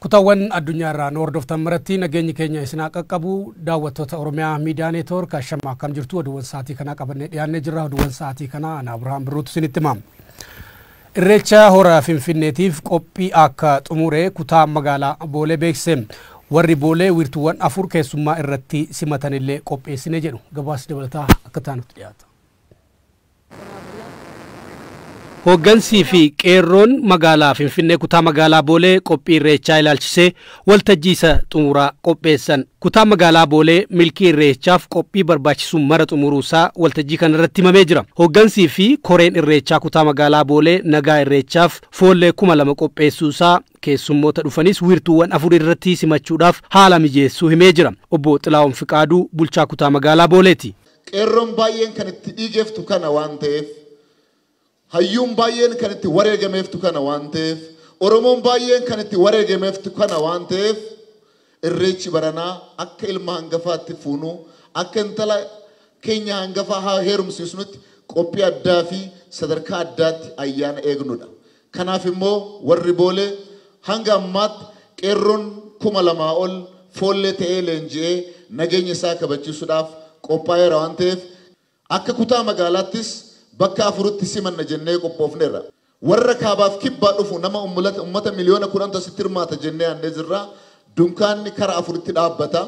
Kutawwan addunyaa irraa nu hordoftan maratti nageenyi keenya isin haa qaqqabu. Daawwattoota Oromiyaa Miidiyaa Neetwoork ashamma akkam jirtu oduuwwan sa'aatii kanaa qabannee dhiyaannee jirra. Oduuwwan sa'aatii kanaa ana Abirahaam Birruutu isinitti hima. Irreecha hora Finfinneetiif qophii akka xumure kutaa magaalaa Boolee beeksise. Warri Boolee wiirtuuwwan afur keessummaa irratti simatanillee qopheessine jedhu. Gabaasni dabalataa akka taanutti dhiyaata. Hooggansii fi Qeerroon magaalaa Finfinnee kutaa magaalaa Boolee qophii Irreechaa ilaalchisee waltajjii isa xumuraa qopheessan. Kutaan magaalaa Boolee milkii Irreechaaf qophii barbaachisu mara xumuruu isaa waltajjii kana irratti himamee jira. Hooggansii fi koreen Irreechaa kutaa magaalaa Boolee nagaa Irreechaaf foollee 2000 qopheessuu isaa, keessummoota dhufanis wiirtuuwwan afur irratti simachuudhaaf haala mijeessuu himee jira. Obbo Xilaahun Fiqaaduu bulchaa kutaa magaalaa Booleeti. Qeerroon baay'een kan itti dhiigeeftu kana waan ta'eef, hayyuun baay'een kan itti wareegameeftu kana waan ta'eef, Oromoon baay'een kan itti wareegameeftu kana waan ta'eef Irreechi baranaa akka ilma hangafaatti fuunu, akka intala keenya hangafaa heerumsiisnutti qophii addaa fi sadarkaa addaatti ayyaana eegnudha. Kanaaf immoo warri Boolee hanga ammaatti qeerroon kuma lamaa ol foollee ta'ee leenji'ee nageenya isaa kabachiisuudhaaf qophaa'eera waan ta'eef akka kutaa magaalaattis bakka afuritti simanna jennee qophoofneerra. Warra kaabaaf kibbaa dhufu nama ummata miliyoona 10tu asitti hirmaata jennee yaadnee jirra. Dunkaanni kara afuritti dhaabbata.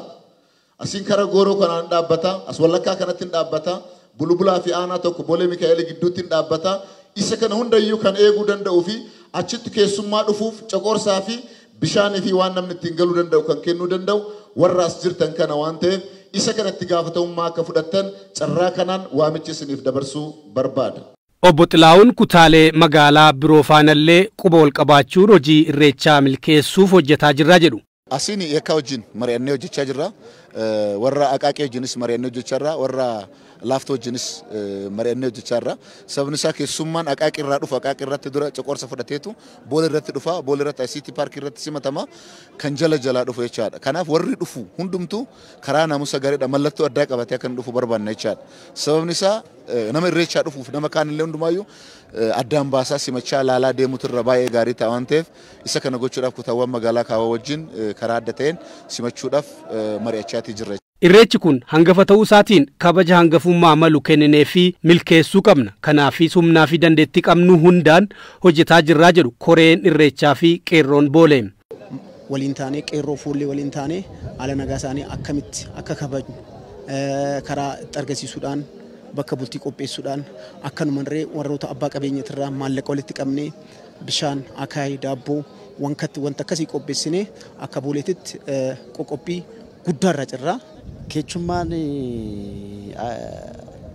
Asiin kara gooroo kanaan hin dhaabbata, as wallakkaa kanatti hin dhaabbata, Bulubulaa fi Aanaa 1 Bolee Mikaa'eelii gidduutti hin dhaabbata. Isa kana hunda iyyuu kan eeguu danda'uu fi achitti keessummaa dhufuuf coqorsaa fi bishaanii fi waan namni ittiin galuu danda'u kan kennuu danda'u warra as jirtan kana waan ta'eef isa kana itti gaafatamummaa akka fudhattan carraa kanaan waamicha isiniif dabarsuu barbaada. Obbo Xilaahun kutaalee magaalaa biroo faanallee quba walqabaachuun hojii Irreechaa milkeessuuf hojjetaa jirra jedhu. Asiin yakkaa wajjin mari'annee hojjechaa jirra. Warra Aqaaqii wajjinis mari'annee hojjechaa jirra. Warra Laaftoo wajjinis mari'annee hojjechaa jirra. Sababni isaa keessummaan Aqaaqii irraa dhufu Aqaaqii irratti dura coqorsa fudhateetu Boolee irratti dhufa. Boolee irratti ICT paarkii irratti simatama. Kan jala jalaa dhufu jechaadha. Kanaaf warri dhufu hundumtuu karaa naamusa gaariidhaan mallattoo addaa qabatee akka inni dhufu barbaanna jechaadha. Sababni isaa nama irreechaa dhufuuf nama kaanillee hundumaayyuu addaan baasaa simachaa laalaa deemuutu irra baay'ee gaarii ta'a waan ta'eef Isa kana gochuudhaaf kutaawwan magaalaa kaawaa wajjin karaa adda ta'een simachuudhaaf mari'achaatii jirra. Irreechi kun hangafa ta'uu isaatiin kabaja hangafummaa malu kennineefii milkeessuu qabna. Kanaafis humnaafi dandeettii qabnu hundaan hojjetaa jirra jedhu Koreen Irreechaafi Qeerroon Boolee. waliin taanee qeerroo fuullee waliin taanee haala nagaa isaanii akkamitti akka kabajnu karaa itti argisiisuudhaan bakka bultii qopheessuudhaan akkanumarree warroota abbaa qabeenyatirraa maallaqa walitti qabnee bishaan, akaayii, daabboo, wankatti wanta akkasii qopheessinee akka booleetitti qoqophii guddaarra jirra. Keechummaan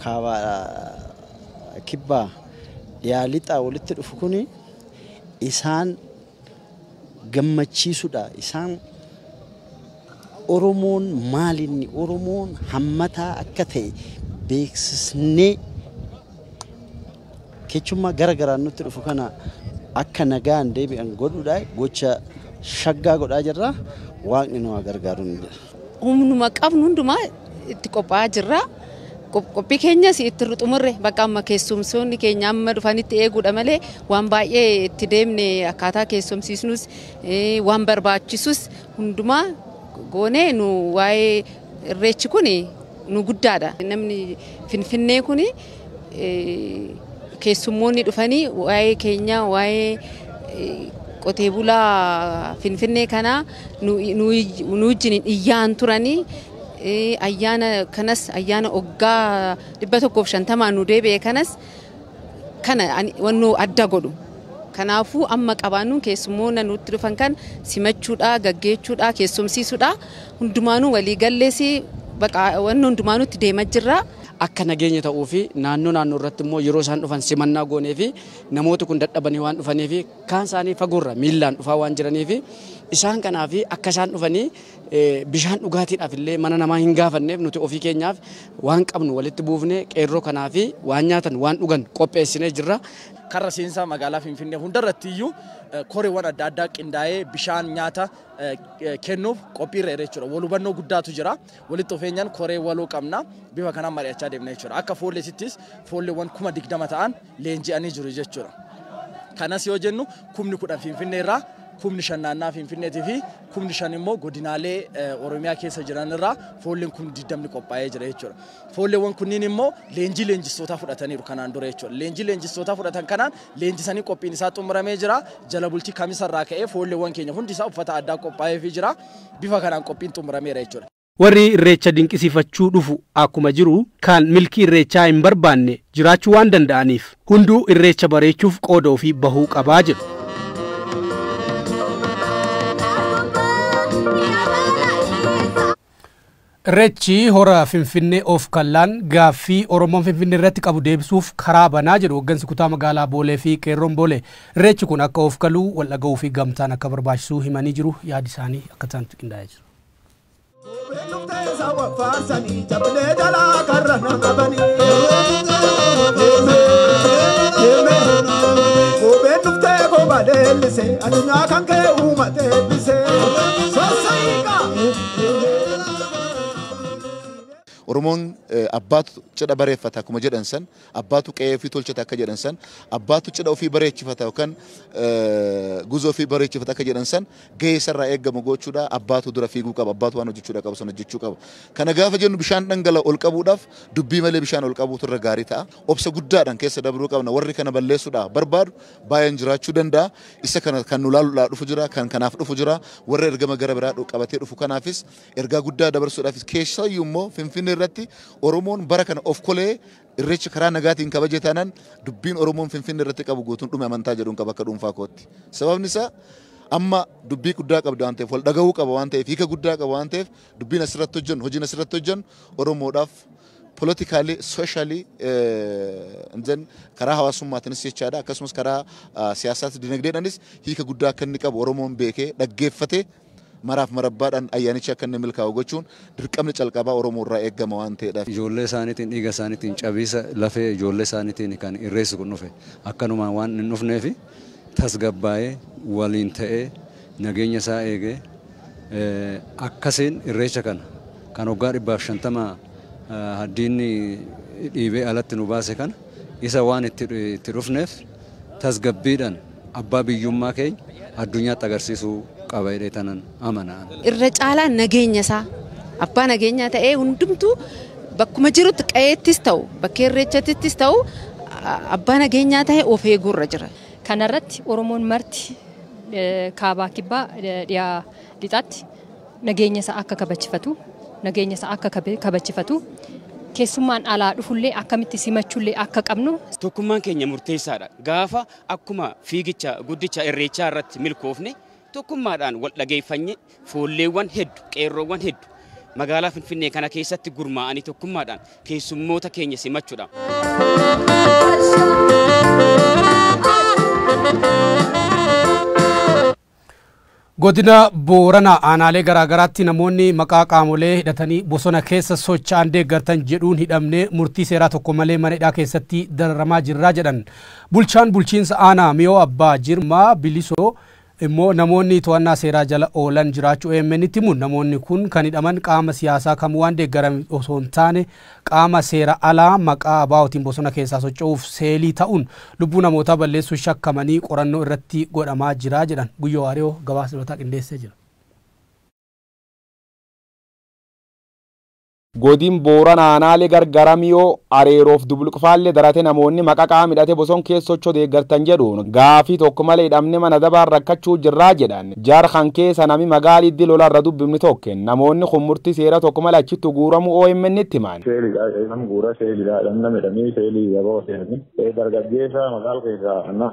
kaabaa kibbaa dhiyaa lixaa walitti dhufu kun isaan gammachiisudha. Isaan Oromoon maalinni Oromoon hammataa akka ta'e beeksisnee Kechummaa gara garaan nutti dhufu kana akka nagaan deebi'an godhuudhaa gocha shaggaa godhaa jirra. Waaqni nu haa gargaaru nuun jedha. Humnuma qabnu hundumaa itti qophaa'aa jirra. Qophii keenyas itti hin xumurre. Bakka amma keessumsoonni keenya amma dhufanitti eeguudha malee waan baay'ee itti deemne akkaataa keessumsiisnus waan barbaachisus hundumaa goonee nu waa'ee Irreechi kun nu guddaadha. Namni Finfinnee kun keessummoonni dhufanii waa'ee keenya waa'ee qotee bulaa Finfinnee kanaa nu wajjin iyyaan turanii ayyaana kanas ayyaana oggaa 150 nu deebi'e kanas kana waan nu adda godhu. Kanaafuu amma qabaannuun keessummoota nutti dhufan kan simachuudha, gaggeechuudha, keessumsiisuudha. hundumaanuu walii gallees baqa wanni hundumaanuu itti deema jirra. akka nageenya ta'uu fi naannoo naannoo irratti immoo yeroo isaan dhufan simannaa goonee fi namooti kun dadhabanii waan dhufanii fi kaan isaanii fagoorra miillaan dhufaa waan jiranii fi isaan kanaa fi akka isaan dhufanii bishaan dhugaatiidhaaf illee mana namaa hin gaafanneef nuti ofii keenyaaf waan qabnu walitti buufnee qeerroo kanaa fi waan nyaatan waan dhugan qopheessinee jirra. Karra seensaa magaalaa Finfinnee hundarratti iyyuu koreewwan adda addaa qindaa'ee bishaan nyaata kennuuf qophiirra jira jechuudha. Wal hubannoo guddaatu jira. Walitti dhufeenyaan koree waloo qabna. Bifa kanaan mari'achaa deemna jechuudha. Akka foolleesittis foolleewwan kuma digdama ta'an leenji'anii jiru jechuudha. Kanas yoo jennu kumni kudhan Finfinnee irraa kumni shan naannaa Finfinneetii fi kumni shan immoo godinaalee Oromiyaa keessa jiran irraa foolleen kumni digdamni qophaa'ee jira jechuudha. Foolleewwan kunniin immoo leenjii leenjistootaa fudhataniiru kanaan dura jechuudha. Leenjii leenjistootaa fudhatan kanaan leenjisanii qophiin isaa xumuramee jira. Jala bultii kamisa irraa ka'ee foolleewwan keenya hundi isaa uffata addaa qophaa'eefii jira. Bifa kanaan qophiin xumurameera jechuudha. Warri Irreecha dinqisiifachuu dhufu akkuma jiru kan milkii Irreechaa hin barbaanne jiraachuu waan danda'aniif hunduu Irreecha bareechuuf qooda ofii bahuu qabaa jedhu. Irreechi Hora Finfinnee Of Kallaan gaaffii Oromoon Finfinnee irratti qabu deebisuuf karaa bana jedhu hoggansi kutaa magaalaa Boolee fi Qeerroon Boolee. Irreechi kun akka of kalu, wal dhaga'uu fi gamtaan akka barbaachisuu himanii jiru. Yaadi isaanii akka itti qindaa'ee jira. Addunyaa kan kee uumate eebbise. Oromoon abbaatu cidha bareeffata akkuma jedhan san abbaatu qe'ee ofii tolchata akka jedhan san abbaatu cidha ofii bareechifata yookaan guza ofii bareechifata akka jedhan san gahee isarraa eegamu gochuudha abbaatu dura fiiguu qaba abbaatu waan hojjechuudha qabu sana hojjechuu qaba kana gaafa jennu bishaan dhangala ol qabuudhaaf dubbii malee bishaan ol qabuutu irra gaarii ta'a obsa guddaadhaan keessa dabruu qabna warri kana balleessuudha barbaadu baay'een jiraachuu danda'a. Isa kana kan nu ilaaluudhaa dhufu jira, kan kanaaf dhufu jira. Warra ergama gara biraa dhu- qabatee dhufu kanaafis ergaa guddaa dabarsuudhaafis keessayyuu immoo Finfinnee irratti Oromoon bara kana of kolee irreecha karaa nagaatiin kabaje taanaan dubbiin Oromoon Finfinnee irratti qabu guutuun dhume amantaa jedhuun qaba akka dhuunfaa kootti. Sababni isaa amma dubbii guddaa qabda waan ta'eef wal dhaga'uu qaba waan ta'eef hiika guddaa qaba waan ta'eef dubbiin asirratti hojjennu hojiin asirratti hojjennu Oromoodhaaf politically, socially, eh, and then karaa hawaasummaatiinis jechaadha akkasumas karaa ah, siyaasaatis dinagdeedhaanis hiika guddaa akka inni qabu Oromoon beekee dhaggeeffatee maraaf marabbaadhaan ayyaanichi akka inni milkaa'u gochuun dirqamni calqabaa Oromoo irraa eegama waan ta'eedhaaf. Ijoollee isaaniitiin dhiiga isaaniitiin cabiisa lafee ijoollee isaaniitiin kan irreessi kun dhufe akkanumaan waan hin dhufneefi tasgabbaa'ee waliin ta'ee nageenya isaa eegee akkasiin irreecha kana kan waggaa 150 diinni dhiibee alatti nu baase kana isa waan itti dhufneef tasgabbiidhaan abbaa biyyummaa keenya addunyaatti agarsiisuu qaba jedhee tanan amana. Irra caalaa nageenya isaa abbaa nageenyaa ta'ee hundumtuu bakkuma jirutti qa'eettis ta'u bakkee irreechattis ta'u abbaa nageenyaa ta'e of eeguurra jira. Kana irratti Oromoon marti Kaabaa, Kibbaa, Dhiyaa, Lixaatti nageenya isaa akka kabachifatu, nageenya isaa akka kabachifatu, keessummaan alaa dhufullee akkamitti simachullee akka qabnu. Tokkummaan keenya murteessaadha. Gaafa akkuma fiigicha guddicha Irreechaa irratti milkoofne tokkummaadhaan wal dhageeffannee Foolleewwan heddu, qeerroowwan heddu magaalaa Finfinnee kana keessatti gurmaa'anii tokkummaadhaan keessummoota keenya simachuudhaaf. Godina Booranaa aanaalee garaagaraatti namoonni maqaa qaamolee hidhatanii bosona keessa socho'an deeggartan jedhuun hidhamnee murtii seeraa tokko malee mana hidhaa keessatti dararamaa jirraa jedhan. Bulchaan bulchiinsa aanaa Miyoo Abbaa Jirmaa Bilisoo immoo namoonni to'annaa seeraa jala oolan jiraachuu AMNtti himuun namoonni kun kan hidhaman qaama siyaasaa kamuu waan deeggaran osoo hin taane qaama seera alaa maqaa ABOtiin bosona keessaa socho'uuf seelii ta'uun lubbuu namootaa balleessuun shakkamanii qorannoo irratti godhamaa jira jedhan. Guyyoo Waariyoo gabaasa dabalataa qindeessee jira. Godin Boorana Aanaalee Gargara Miyoo, Areeroo fi Dubluqfaalle darate namoonni maqa qaama hidhate boson keessa socho deeggartan jedhuun gaafii tokko male hidhamne mana adabaan rakkachuu jirraa jedhan. Jar kan keessa nami magaal iddi lola irra dubbifni tokken. Namoonni kun murti seera tokko male achitti guuramu OMNtti himan. Seeli dha nam guura seeli dha nam hidhani seeli wbo seelani dargaggeesa magaal keessa anna.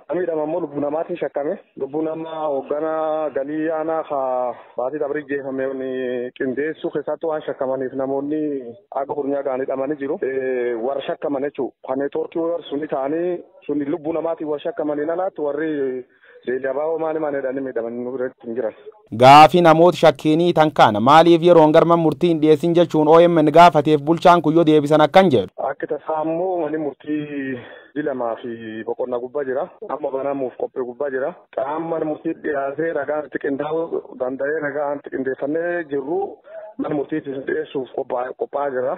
Namni hidhame ammoo lubbuu namaatiin shakkame. Lubbuu nama hoogganaa galii aanaa ka baatii dabrii jeefame qindeessuu keessatti waan shakkamaniif namoonni akka kurnyaa ga'an hidhamanii jiru. Warra shakkaman jechuudha. Kan neetwoorkii warra suni ta'anii suni lubbuu namaatiin warra shakkamanii nanaatti warri Deelii Abaaboo maani maani jedhanii miidhamanii nu biratti hin jiran. Gaaffii namoota shakkiinii tan kaana maaliif yeroon gar man murtii hin dhiyeessin jechuun omn gaafateef bulchaan kun yoo deebisan akkan jedhu. Akki tasaa ammoo mani murtii ji lamaa fi boqonna gubba jira. Amma banamuuf qophii gubba jira. Qaam man murtii dhiyaatee ragaan itti qindaa'u danda'ee ragaan itti qindeeffannee jirru man murtiitti isin dhiyeessuuf qophaa'aa jirra.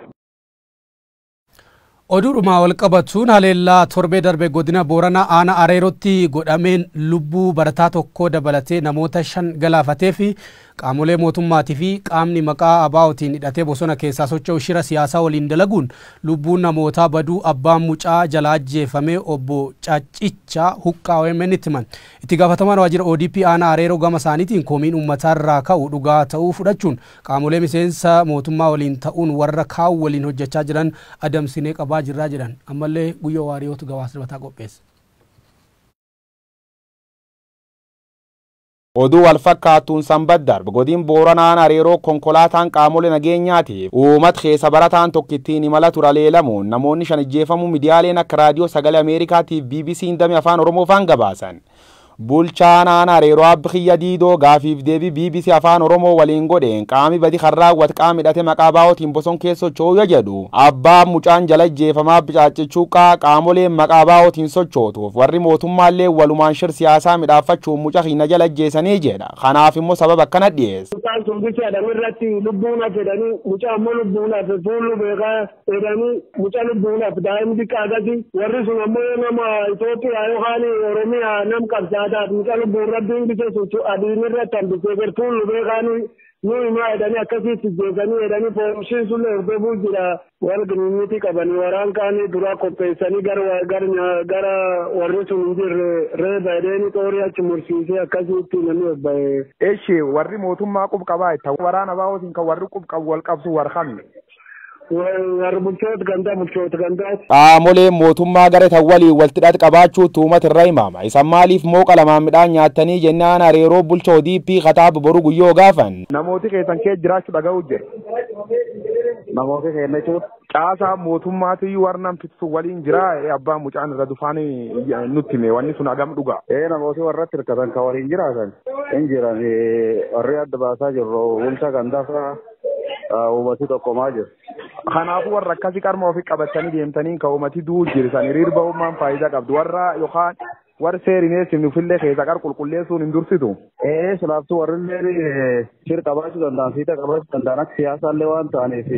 Oduudhuma walqabatuun haleellaa torbee darbe godina Booranaa aanaa Areerootti godhameen lubbuu barataa tokkoo dabalatee namoota shan galaafatee fi qaamolee mootummaatii fi qaamni maqaa ABOtiin hidhatee bosona keessaa socho'u shira siyaasaa waliin dalaguun lubbuun namootaa baduu abbaan mucaa jalaa ajjeefame obbo Caccicha Huqqaa OMN itti himan. Itti gaafatamaan waajjira ODP aanaa Areeroo gama isaaniitiin komiin uummataa irraa ka'u dhugaa ta'uu fudhachuun Qaamolee miseensa mootummaa waliin ta'uun warra kaan waliin hojjachaa jiran adamsinee qabaa jirraa jedhan. Ammallee Guyyoo Waariyootu gabaasa dabataa qopheesse. Oduu walfakkaattuun Sanbat darb godin Booranaa Aanaa Areeroo konkolaataan qaamole nageenyaatiif uumat keessa barataan tokko ittiin imala ture aleelamuun namoonni shan ijjeefamuu midiyaaleen akka Raadiyoo Sagalee Ameerikaatiif BBC'n dame Afaan Oromoofaan gabaasan. Bulchaan Aanaa Areeroo Abb Kiyya Diidoo gaafiif deebii bbc Afaan Oromoo waliin godheen qaami badi kan raawwat qaam hidhate maqaa ABOtiin boson keessa socho'uu ya jedhu abbaan mucaan jala ajjeefame Abb Caacce Chuuqqaa qaamoleen maqaa ABOtiin sochootuuf warri mootummaalleen walumaan shir siyaasaa midhaaffachuun muca kiyna jala ajjeesanii jedha kanaaf immoo sababa akkana dhiyeessa. Mucaan sun bichaadham irratti lubbuun hafe dhani mucaan immoo lubbuun hafe fuullu beeka. jedhanii mucaa lubbuudhaaf daa'imni xiqqaa akkasi warri sun ammoo yoo nama Itoophiyaa yookaan Oromiyaa nam qabsaataaf mucaa lubbuun rabbiin bise sun adiin irratti hambisee gartuun lubee kaanii nu himaa jedhanii akkasitti jeesanii jedhanii poolisiin sun hordofuu jira wal giniinyitii qabanii waraan kaanii duraa qopheessanii gara gara warri sun hin jirre reeba jedhanii xoorii achi mursiisee akkasitti namni obba'ee. Eshi warri mootummaa qubqabaa itti waraana baa'ootiin kan warri qubqabu wal qabsu warqabne. Warra bulchoota gandaa bulchoota gandaati. Qaamoleen mootummaa garee tan waliin waltidhaat qabaachuu tuumat irra himaama. Isan maaliif mooqa lamaan midhaan nyaattanii jennaan areeroo bulcha ODP kataab boru guyyoo gaafan. Namooti keessan kee jiraachuu dhaga'uu jira. Namooti keenya jechuun caasaa mootummaati warra namtitu waliin jira abbaa mucaan irra dufaan nutti hime wanni sun hagam dhuga. Ee namooti warra hirkatan kan waliin jiraatan hin jiran warri adda baasaa jirru bulcha gandaa fa'a. Uummati tokkomaa jiru. Kanaafuu warra akkasii qarma ofii qabatanii deemtanii kan uummati du'u jirtan hiriir ba'ummaan faayidaa qabdu warra yookaan warri seeriin eessin nufillee keessa qar qulqulleessuun hin dursitu. Ee silaaftuu warrillee shir qabaachuu danda'an fiixa qabaachuu danda'an akka siyaasaallee waan ta'aniif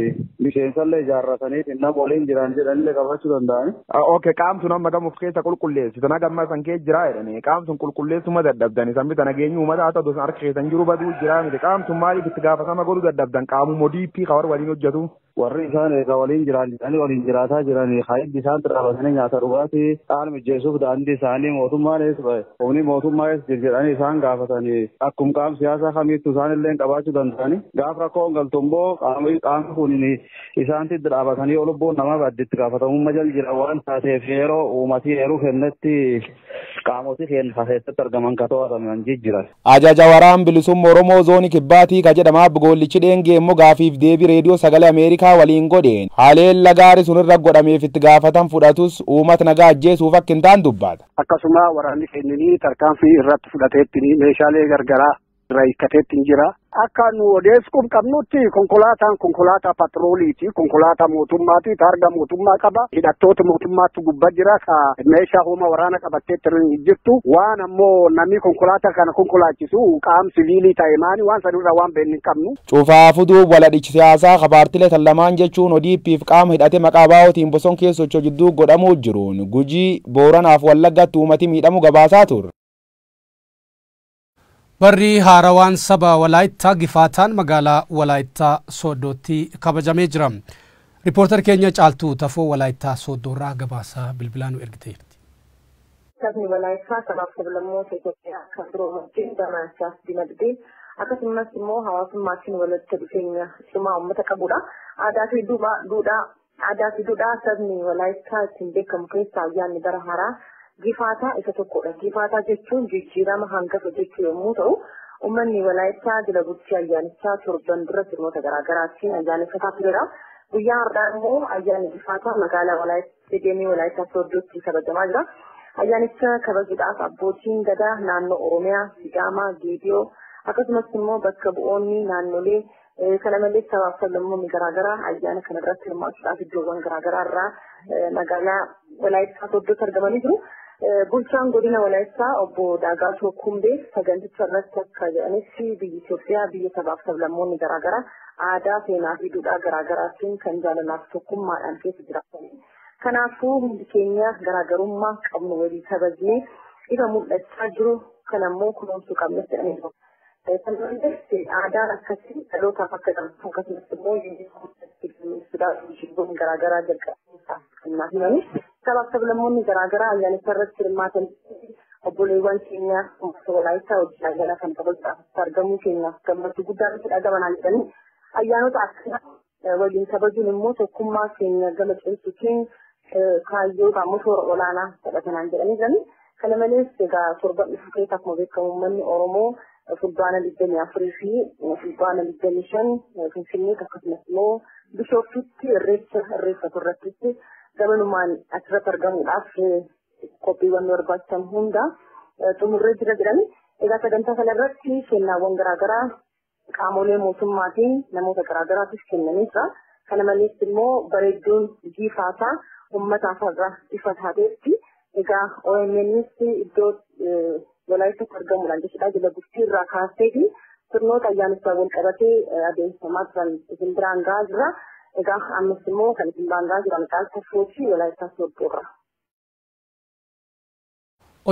miseensallee ijaarrataniif nama waliin jiran jedhanillee qabaachuu danda'an. Ok qaamtu nama gamuuf keessa qulqulleessitan hagamma san kee jiraa jedhani. Qaamtun qulqulleessuu ma dadhabdan isan bita nageenyi uumata haa ta'u san harka keessan jiru baduu jiraa miti qaamtun maaliif itti gaafatama godhu dadhabdan qaamummo DP ka warri waliin hojjetu. Warri isaan eega waliin jiraan jedhanii waliin jiraataa jiranii ka hiddi isaan xirrabatanii nyaata dhugaatii dhaan mijjeessuuf daandii isaanii mootummaan ees ba'e humni mootummaa ees jir jedhanii isaan gaafatanii akkum qaam siyaasaa kamiittu isaan illee qabaachuu danda'anii gaaf rakkoon galtu immoo qaamni qaamni kun isaan tiddi dhaabatanii yoo lubbuun namaa baddi itti gaafatamummaa jal jira waan taateef yeroo uumatii eeruu kennetti Qaamoti keen ka keessatti argaman ka to'ataman jijjiran. Ajaja Waraan Bilisumma Oromoo Zooni Kibbaatii ka jedhama Abb Goollichi Dheengee immoo gaafiif deebii Reediyoo Sagalee Ameerikaa waliin godheen haleella gaari sun irra godhameef itti gaafatan fudhatus uumat nagaa ajjeesuuf akka hin taan dubbata. Akkasuma waraanni keenyini tarkaanfii irratt fudhateettini meeshaalee gargaraa irraa hiikkateetti hin jira. Akka nu odeessuuf qabnutti konkolaataan konkolaataa patrooliiti. Konkolaataa mootummaati. Taarga mootummaa qaba. Hidhattoota mootummaatu gubbaa jira. Ka meeshaa humna waraana qabattee hin jirtu. Waan ammoo namni konkolaataa kana konkolaachisu qaam siviilii ta'e maani waan sanirraa waan beeknu hin qabnu. Cufaa fuduu waladhichi siyaasaa ka paartilee tan lamaan jechuun ODP fi qaama hidhate maqaa ABOtiin boson keessa socho'u jidduu godhamuu jiruun Gujii, Booranaaf Wallaggaatti uumati miidhamu gabaasaa turre. Barri haarawaan saba Walaayittaa Gifaataan magaalaa Walaayittaa Sooddootti kabajamee jira. Ripoortar keenya Caaltuu Tafoo Walaayittaa Sooddoorraa gabaasa bilbilaa nu ergitee jirti. Sabni Walaayittaa sabaaf sablammoota Itoophiyaa kan biroo wajjin barnaachaaf dinagdee akkasumas immoo hawaasummaatiin walitti dhufeenya cimaa uummata qabudha. Aadaa fi duudhaa Aadaa fi duudhaa sabni Walaayittaa ittiin beekamu keessaa ayyaanni bara haaraa Gifaataa isa tokkodha. Gifaataa jechuun jijjiirama hangafa jechuu yommuu ta'u, uummanni Walaayittaa jila bultii ayyaanichaa torban dura sirnoota garaagaraatiin ayyaaneffataa tureera. Guyyaa har'aa immoo ayyaanni Gifaataa magaalaa Walaayittaa Isteediyeemii Walaayittaa Sooddootti kabajamaa jira. Ayyaanicha kabajuudhaaf abbootiin gadaa naannoo Oromiyaa, Sidaamaa, Geediyoo akkasumas immoo bakka bu'oonni naannolee Kana malees sabaaf sablammoonni garaagaraa ayyaana kana irratti hirmaachuudhaaf iddoowwan garaagaraa irraa magaalaa Walaayittaa Sooddootti argamanii jiru. Bulchaan godina Walaayittaa obbo Daagaatoo Kumbee saganticha irratti akka jedhanitti biyyi Itoophiyaa biyya sabaaf sablammoonni garaagaraa aadaa, seenaa fi duudhaa garaagaraatiin kan jaalalaaf tokkummaadhaan keessa jiraatanii. Kanaafuu hundi keenya garaagarummaa qabnu walii kabajnee ifa mul'achaa jiru kanammoo kunuunsuu qabna jedhanii jiru. Kan hundeesse aadaan akkasii dhalootaaf akka darbu akkasumas immoo yuuniskoon ibsuudhaaf mishingoon garaagaraa jalqabsiisaa kan naa himani. Sabaaf sablammoonni garaagaraa ayyaanicha irratti hirmaatan obboleewwan keenya uummata walaayittaa hojii ayyaana kan kabajuudhaaf argamuu keenyaaf gammachuu guddaa nutti dhagamanaa jedhanii ayyaanota akkanaa waliin kabajuun immoo tokkummaa keenya gama cimsuutiin kaayyoo yookaan immoo toora olaanaa fedha kanaan jedhanii jiranii. Kana malees egaa torban dhufu keessa akkuma beekamu uummanni Oromoo fulbaana digdamii afurii fi fulbaana digdamii shan Finfinneetti akkasumas immoo Bishooftuutti irreecha irreeffatu irrattitti gamanumaan achirratti argamuudhaaf qophiiwwan barbaachisan hunda xumurree jira jedhanii. Egaa sagantaa kana irratti kennaawwan garaagaraa Qaamolee mootummaatiin namoota garaagaraatiif kennanii jira. Kana malees immoo bareedduun jiifaasaa uummataaf har'a ifa taateetti. Egaa OMNs iddoo Walaayitatti argamuudhaan jechuudha jila bultii irraa kaaseeti sirnoota ayyaanichaa wal qabatee adeemsifamaa turan isin biraan gahaa jira. Egaa ammas immoo kan isin biraan gahaa jiran caalaa safuu fi Walaayittaa soodduurra.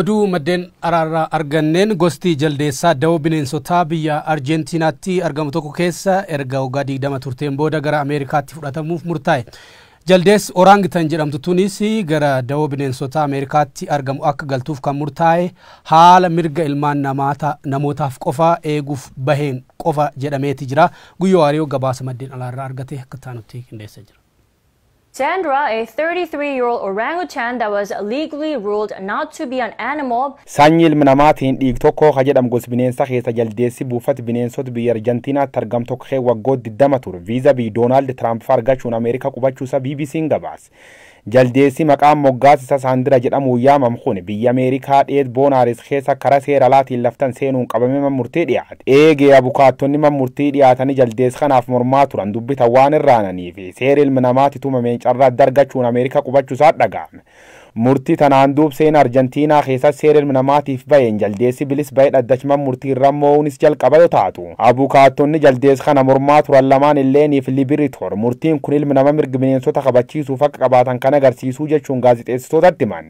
Oduu maddeen araarraa arganneen gosti jaldeessaa dawoo bineensotaa biyya Arjeentiinaatti argamu tokko keessa erga waggaa 20 turteen booda gara Ameerikaatti fudhatamuuf murtaa'e. Jaldeessi Oraangitan jedhamtu tunis gara dawoo bineensotaa Ameerikaatti argamu akka galtuuf kan murtaa'e haala mirga ilmaan namaata namootaaf qofa eeguuf baheen qofa jedhameeti jira. Guyyoo Waariyoo gabaasa maddeen alaarraa argate akka taanutti qindeessee jira. Sandra, a 33-year-old orangutan that was legally ruled not to be an animal, Saanyii ilmi namaatiin dhiig tokkoo ka jedhamu gos bineensa keessa jaldeessi buufati bineensot biyya Arjantiinaatti argamu tokko kee waggoot 20 ture viiza biy Doonaald Tiraamp fa argachuun Ameerika qubachuu isa BBCn gabaase. Jaldeessi maqaan moggaas isa Saandira jedhamuun yaamam kun biyya Ameerikaa dheet Boonaaris keessa kara seer alaatiin laftan seenuun qabame man murtii dhiyaate. Eegee abukaattonni man murtii dhiyaatani jaldeess kanaaf mormaa turan dubbita waan irraananiif. Seeri ilmi namaati tumameen carraa adda argachuun Ameerikaa qubachu isaa dhaga'ame. Murti tanaan duub seena Arjantiinaa keessatti seera ilmi namaatiif baheen jaldeessi bilis bahe dhaddach man murtii irra moo'uunis jalqaba yoo taatu. Abukaattonni jaldeess kana mormaa turan lamaan illeen fi Libiritor murtiin kun ilmi nama mirg bineensota kabachiisuuf akka qabaatan kan agarsiisuu jechuun gaazixeessitootatti himan.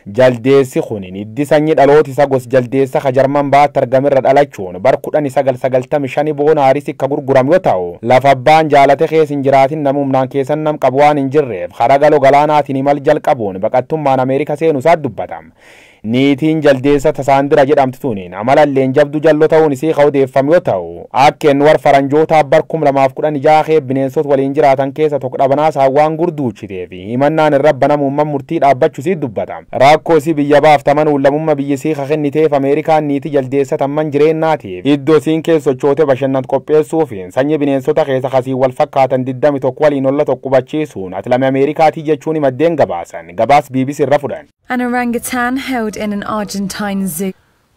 Jaldeessi kun hiddi sanyi dhalooti isa gos Jaldeessa ka Jarman Ba'atti argame irra dhalachuun bar 1995 Boona Harisi ka gurguram yo ta'u, lafa abbaan jaalate keessa hin jiraatin nami humnaan keessan nam qabu waan hin jirreef kara galo galaanaatiin imal jalqabuun baqattummaan Amerika seenu isaa dubbata. Niitiin Jaldeessa ta Saandira jedhamtu tuniin amalalleen jabdu jallo ta'uun isii ka odeeffam yo ta'u, akka inni war Faranjootaa bar 2016 kee bineensot waliin jiraatan keessa tok dhabanaa saawwaan gurduuchiteef. Himannaan irra banamuun man murtii dhaabbachu isii dubbata. Raakkoo isii biyya baafta man uullamumma biyyi isii ka kenniteef Ameerikaan niiti jaldeessa tan man jireennaatiif iddo isiin kees sochoote bashannant qopheessuufiin sanyi bineensota keesa ka isiin wal fakkaatan 21 waliin olla tokko qubachiisuun ati lame Ameerikaatii jechuuni maddeen gabaasan. Gabaas bbc irra fudhan. An orangutan held in an Argentine zoo.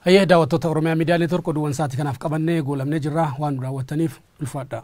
Hayyee daawwattoota Oromiyaa Miidiyaa Neetwork oduuwwan sa'aatii kanaaf qabannee goolabnee jirra waan nu daawwattaniif ulfaadhaa.